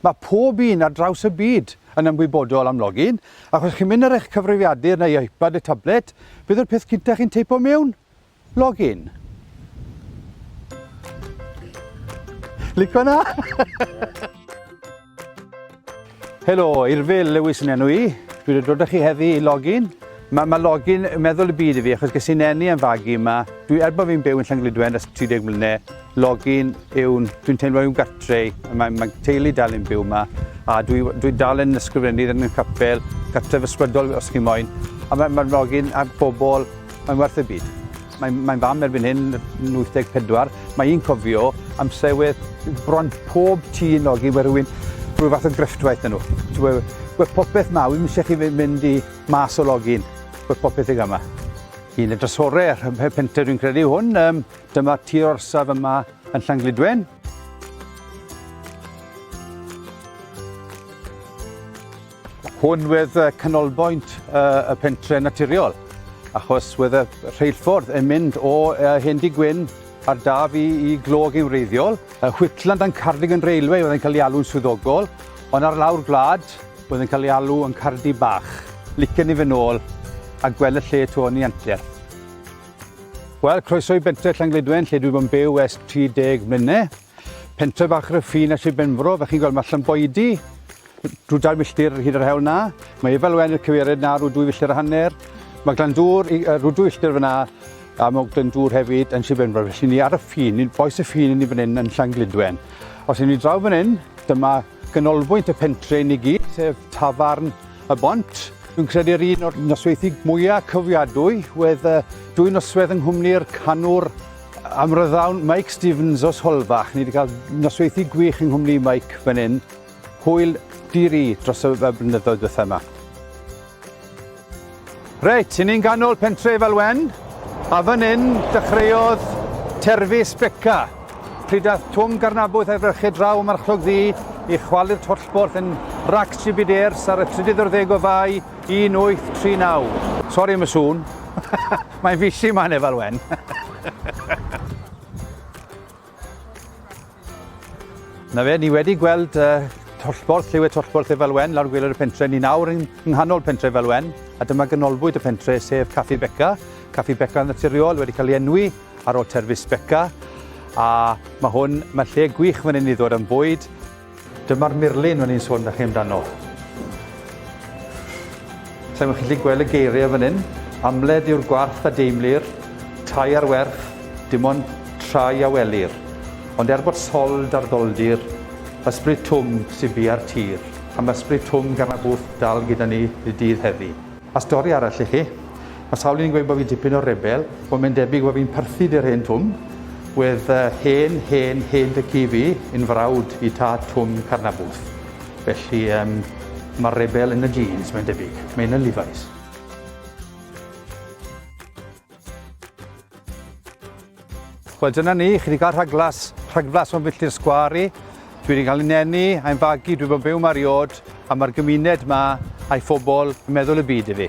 Mae pob un ar draws y byd yn ymwybodol am login, ac os chi'n mynd ar eich cyfrifiadur neu iPad neu tablet, beth yw'r peth cyntaf chi'n teipo mewn? Login. Lico na? Helo, Irfil Lewis yn enw i. Dwi wedi dod â chi heddi i login. Mae ma logi'n meddwl y byd i fi achos ges i'n eni am fagu yma. Dwi, er bod fi'n byw yn Llangludwen ers 30 mlynedd, logi'n yw'n, dwi'n teimlo yw'n gartre i. Mae, mae teulu dal yn byw yma a dwi, dwi dal yn ysgrifennu yn y capel, gartref ysbrydol os chi moyn. A mae, mae logi'n a bobl, mae'n werth y byd. Mae'n, mae'n fam erbyn hyn, 84. Mae un cofio amser wedd bron pob tŷ yn logi, wedd rhywun, rhyw fath o grefftwaith yn nhw. Ti'n gwybod, wedd popeth mawr, ddim eisiau chi mynd i Mas o login, bod popeth i gama. Yn y drasore, rhymhe pentre dwi'n credu hwn, um, dyma tir orsaf yma yn Llanglidwen. Hwn wedd canolbwynt uh, y pentre naturiol, achos wedd y rheilffordd yn mynd o uh, Hendy Gwyn ar daf i, i glog yn wreiddiol. Y Whitland and Cardigan Railway oedd yn cael ei alw'n swyddogol, ond ar lawr gwlad, Oedd yn cael ei alw yn Cardi Bach. Licen ni fynd nôl a gweld y lle 'to yn ei anterth. Wel, croeso i bentre Llangledwen, lle dwi bod yn byw ers 30 mlynedd. Pentre bach ryffin a Sir Benfro, fel chi'n gweld mae allan boedi, drwy dair milltir hyd yr hewl na. Mae Efel Wen y cyfeired na, rhyw dwy filltir a hanner. Mae Glan Dŵr, rhyw dwy filltir fyna, a mae Ogden Dŵr hefyd yn Sir Benfro. Felly ni ar y ffin, ni'n boes y ffin ni fan hyn yn Llangledwen. Os ydyn ni draw fan hyn, dyma Canolbwynt y pentre yn i gyd, sef Tafarn y Bont. Dwi'n credu'r un o'r nosweithi mwyaf cofiadwy wedd uh, dwy noswedd yng nghwmni'r canwr amryddawn Mike Stevens os Holfach. Ni wedi cael nosweithi gwych yng nghwmni Mike fan hyn. Hwyl diri dros y blynyddoedd bethau yma. Reit, i ni'n ganol pentre Falwen, a fan hyn dechreuodd Terfys Beca. Pryd ath Twm Garnabwyth a'i frechyd draw y marchlog ddi i chwalu'r tollborth yn Rac Jibiders ar y 30 o'r ddeg o fai 1839. Sori am y sŵn. Mae'n fisi yma yn Efalwen. Na fe, ni wedi gweld uh, tollborth, lliwed tollborth Efal Wen lawr gwylod y pentre. Ni nawr yng nghanol pentre Efal Wen, a dyma ganolbwynt y pentre, sef Caffi Beca. Caffi Beca yn naturiol wedi cael ei enwi ar ôl terfus Beca. A mae hwn, mae lle gwych fan hyn i ddod am bwyd. Dyma'r murlun o'n i'n sôn da chi amdano. Sa'n chi'n gallu gweld y geiriau fan hyn. Amled yw'r gwarth a deimlir, tai ar werth, dim ond trai a welir. Ond er bod sold ar ddoldir, ysbryd twm sy'n bu ar tir, am ysbryd twm gan na bwth dal gyda ni y dydd heddi. A stori arall i chi. Mae sawl un yn gweud bod fi dipyn o rebel. Wel, mae'n debyg bod fi'n perthyn i'r hen twm. Wedd uh, hen, hen, hen dy ci fi yn frawd i tad twm Carnabwth. Felly, um, mae'r rebel yn y jeans, mae'n debyg. Mae'n y Levi's. Wel dyna ni, chi wedi cael rhaglas, rhaglas o'n filltir sgwari. Dwi wedi cael ei nenu, a'i'n fagu, dwi wedi byw mae'r iod, a mae'r gymuned yma a'i phobl yn meddwl y byd i fi.